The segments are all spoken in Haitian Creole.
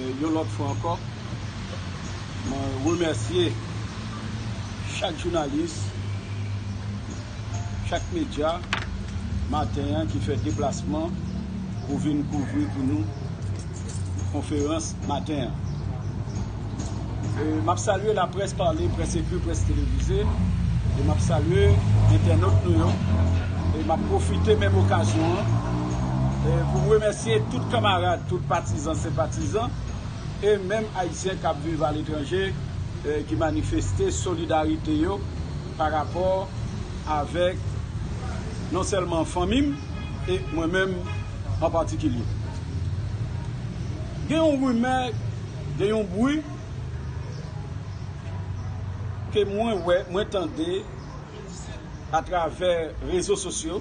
Yon lòt fwa ankò, mwen remèsye chak jounalis, chak medya maten an ki fè deplasman pou vin kouvri pou nou konferans maten an. M ap salye laprès pale, près ekri, près televize e m ap salye entènot nou yo. E m ap pwofite menm okazyon an pou m remèsye tout kanmarad, tout patizan. Patizan e menm Ayisyen kap viv aletranje ki manifeste solidarite yo pa rapò avèk non sèlman fanmi m e mwen menm an patikilye. Gen yon rimè, gen yon bri ke mwen wè, mwen tande atravè rezo sosyo.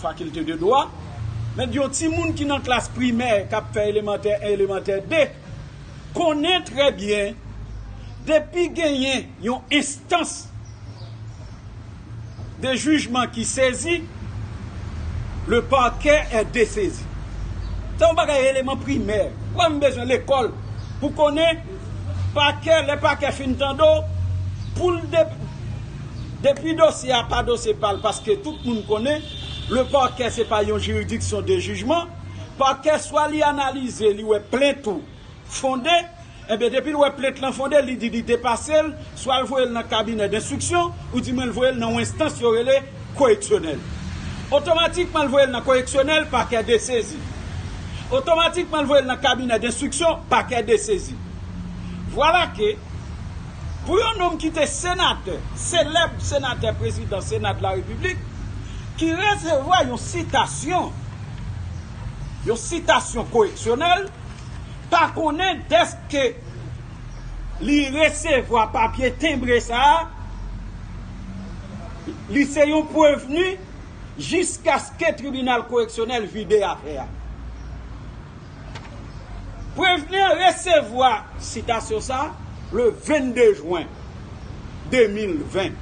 Fakilte de dwa, Mèt yon timoun ki nan klas primè k ap fè elemantè 1, elemantè 2 konnen trè byen depi genyen yon enstans de jijman ki sezi, le parquet est dessaisi. Se yon bagay eleman primè. Ou pa menm bezwen lekòl pou konnen pakè, lè pakè fin tande w, pou l. Depi dosye a pa dosye pa l paske tout moun konnen le parquet se pa yon jiridiksyon de jijman, parquet swa li analize li wè plent ou fonde, enben depi l wè plent lan fonde li di li depase l swa l voye l nan kabinè denstriksyon ou di mwen l voye l nan yon enstans yo rele koreksyonèl. Otomatikman l voye l nan koreksyonèl pakè desezi. Otomatikman l voye l nan kabinè denstriksyon pakè desezi. Vwala ke. Pou yon nonm ki te senatè, selèb senatè prezidan Sena de la Repiblik, ki resevwa yon sitasyon, yon sitasyon koreksyonèl, pa konnen dèske li resevwa papye tenbre sa a, li se yon prevni jiskaske tribinal koreksyonèl vide afè a. Prevenir resevwa sitasyon sa a le 22 jwen 2020.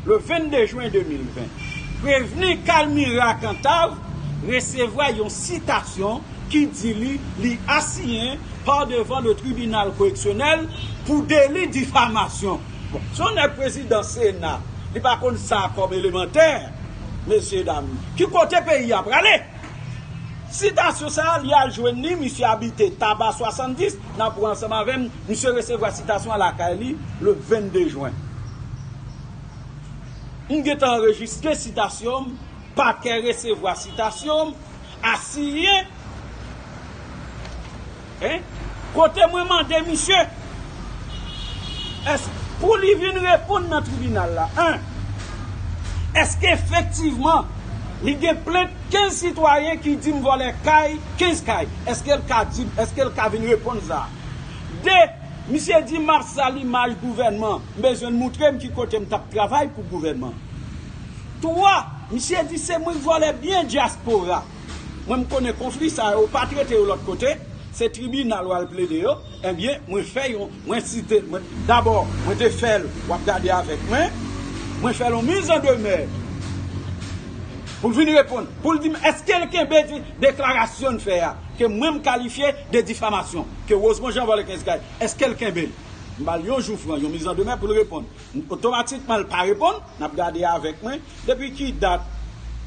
Le 22 jwen 2020, Prevenir Calmira Cantave resevwa yon sitasyon ki di li li asiyen pa devan le tribinal koreksyonèl pou deli difamasyon. Bon, se yon nèg prezidan sena, li pa konn sa kòm elemantè, mesyedam. Ki kote peyi a prale? Sitasyon sa a, li al jwenn li, misye abite Taba 70, nan pwen ansanm avè m, misye resevwa sitasyon an lakay li, le 22 jwen. M gen tan anrejistre sitasyon m, pakè resevwa sitasyon m, asiyen. Hein? Kote mwen mande misye? Èske pou li vin reponn nan tribinal la 1. Èske efektivman li gen plent 15 sitwayen ki di m vòlè kay 15 kay? Èske l ka di m, èske l ka vin reponn sa? 2. Misye di m ap sal imaj gouvènman, m bezwen l moutre m ki kote m t ap travay pou gouvènman. 3. Misye di se mwen k vòlè byen dyaspora. Mwen m konnen konfli sa yo ou pa trete yo lòt kote, se tribinal wal plede yo, enbyen mwen fè yon, mwen site, mwen, dabò mwen te fèl, wap gade avèk mwen, mwen fèl yon miz an demè poul vin reponn, poul dim eskel kenbe di deklarasyonn fè a ke mwen m kalifye de difamasyon ke Rosemond Jean vòlè 15 kay, eskel kenbel? M bal yon jou fran, yon miz an demè poul reponn, otomatikman l pa reponn, nap gade avèk mwen depi ki dat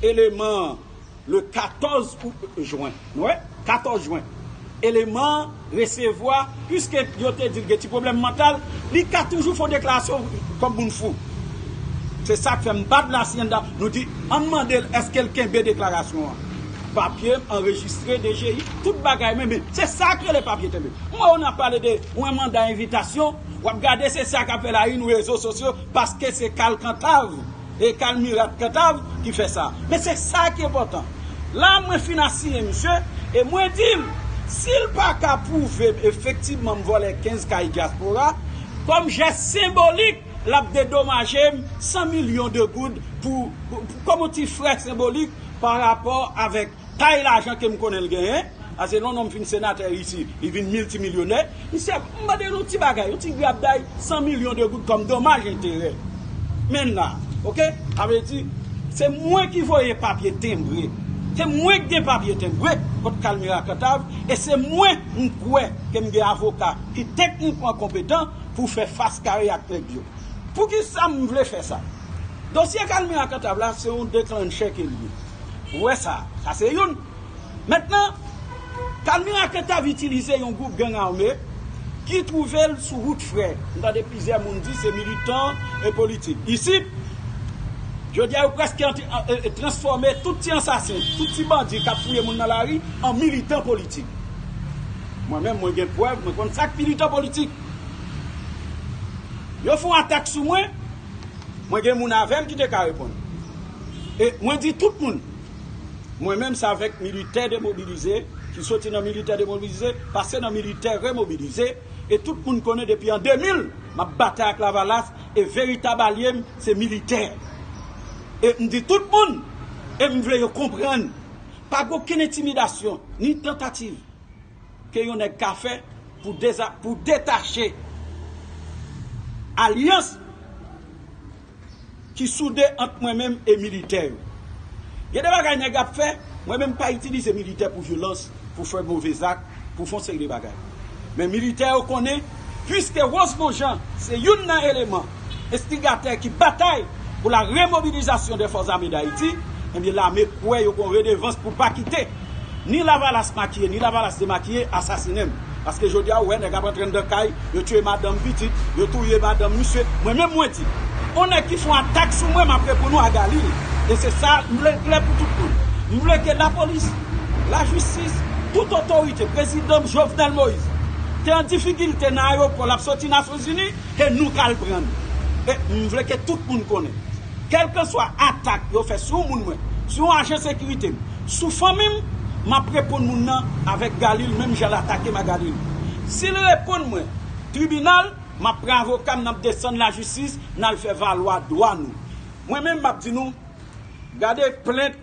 eleman. Le 14 Jwen, nou wè, 14 Jwen, eleman an resevwa, piske yo te di l gen ti pwoblèm mantal, li ka toujou fè yon deklarasyon kòm moun fou. Se sa k fè m bat Lasienda, nou di, an n mande l èske l kenbe deklarasyon an. Papye m anrejistre DGI, tout bagay mwen, men se sa k rele papye tenbe. M wè w nan pale de yon manda envitasyon, w ap gade se sa k ap fè lari n rezo sosyo, paske se kalkantav. e kal mirat kantav ki fè sa men se sa ki enpòtan la mwen fin asiyen misye e mwen dil sil paka pwouvem efektivman m vòlè 15 kay dyaspora kòm jès senbolik lap dedomajem 100 milyon de goud pou kòm yon ti frè senbolik parapò avèk Tay lajan kem konnen l genyen, pase lè yon nonm fin senatè ayiti, li vin miltimilyonè, misye ap mande nou ti bagay, yon ti grabday 100 milyon de goud kòm domaj enterè. Menn la. Ok? Sa vle di, se mwen ki voye papye tenbre, se mwen ki gen papye tenbre kont Kalmira Kantav e se mwen m kwè ke m gen avoka ki teknikman konpetan pou fè fas kare ak nèg yo. Poukisa m vle fè sa? Dosye Kalmira Kantav la se yon deklannchè ke l ye. Ou wè sa, sa se youn. Mentnan, Palmyra Cantave itilize yon gwoup gang ame ki twouve l sou wout frè. M tande plizyè moun di se militan e politik. Isit, jodi a yo prèske transfòme tout ti ansasen, tout ti bandi k ap fouye moun nan lari an militan politik. Mwen menm, mwen gen prèv, mwen konn sa k militan politik. Yo fè yon atak sou mwen. Mwen gen moun avèm ki te ka reponn. E mwen di tout moun, mwen menm se avèk militè demobilize ki soti nan militè demobilize, pase nan militè remobilize, e tout moun konnen depi an 2000 map batay ak lavalas e veritab alyem se militè. E mdi tout moun, e mvle yo konprann, pa gen okenn entimidasyon, ni tantativ. ke yon nèg ka fè pou deza pou detache alyans ki soude ant mwen menm e militè yo. Gen de bagay nèg ap fè, mwen menm m pa itilize militè pou vyolans, pou fè move zak, pou fon seri de bagay. Men militè yo konnen. Puiske Rosemond Jean se youn nan eleman enstigatè ki batay pou la remobilizasyon dè Fòs Ame Dayiti, ebyen lame kwè yo gon redevans pou pa kite ni lavalas makiye ni lavalas demakiye asasinen m. Paske jodi a ou wè nèg ap antre anndan kay, yo tiye madanm, pitit, yo touye madanm misye. Mwen menm mwen di, on nèg ki fon atak sou mwen m ap reponn ou a Galil. E se sa m vle l klè pou tout moun. M vle ke lapolis. lajistis, tout otorite, prezidan m Jovenel Moise te an difikilte nan ayopò lap soti Nasyonzini e nou kal pran n. E m vle ke tout moun konnen, kelkanswa atak yo fè sou yon moun mwen, sou yon ajan sekirite m, sou fanmi m, map reponn moun nan avèk Galil menm jan l atake m a Galil. Si l reponn mwen tribinal, map pran avoka m nap desann lajistis nal fè valwa dwa nou. Mwen menm map di nou, gade plent.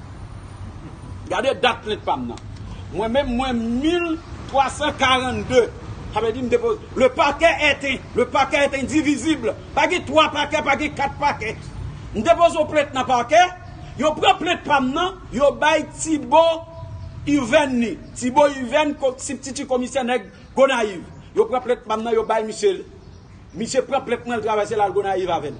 Gade dat plent pam nan. Mwen menm mwen 1342. Sa vle di m depoze. Le parquet est in. Le parquet est indivisible. Pa gen 3 pakè, pa gen 4 pakè. M depoze yon plent nan pakè. Yo pran plent pam nan, yo bay Tibo Irven li. Tibo Irven, sibtiti komisè nèg Gonayiv. Yo pran plent pam nan, yo bay misye l. Misye pran plent mwen, l travèse l al Gonayiv avè l.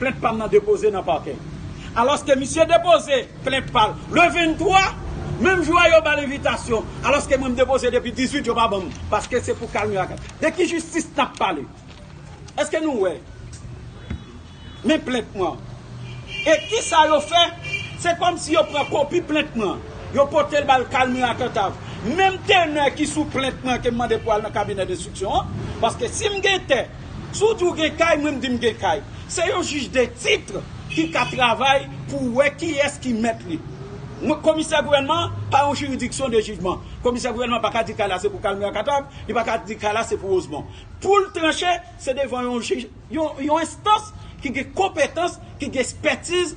plent pa m nan depoze nan pakè. Alòske misye depoze plent pa l le 23, menm jou a yo ba l envitasyon, alòske mwen m depoze depi 18 yo pa ban m, paske se pou kalme ak. De ki jistis n ap pale? Eske nou wè? Men plent mwen an. E ki sa yo fè? Se kòm si yo pran kopi plent mwen an, yo pote l ba l kalme ak antav. Menm tenè ki sou plent mwen ke m mande pou al nan kabinè denstriksyon an, paske si m gen tè, Si w di w gen kay, mwen m di m gen kay. Se yon jij de titre ki ka travay pou wè kiyès ki mèt li. Komisè gouvènman pa yon jiridiksyon de jijman. Komisè gouvènman pa ka di kay la se pou Kalmè Akatav, li pa ka di kay la se pou Wozmon. Pou l tranche, se devan yon jij, yon enstans ki gen konpetans, ki gen espètiz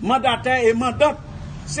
Mandatè e mandant se.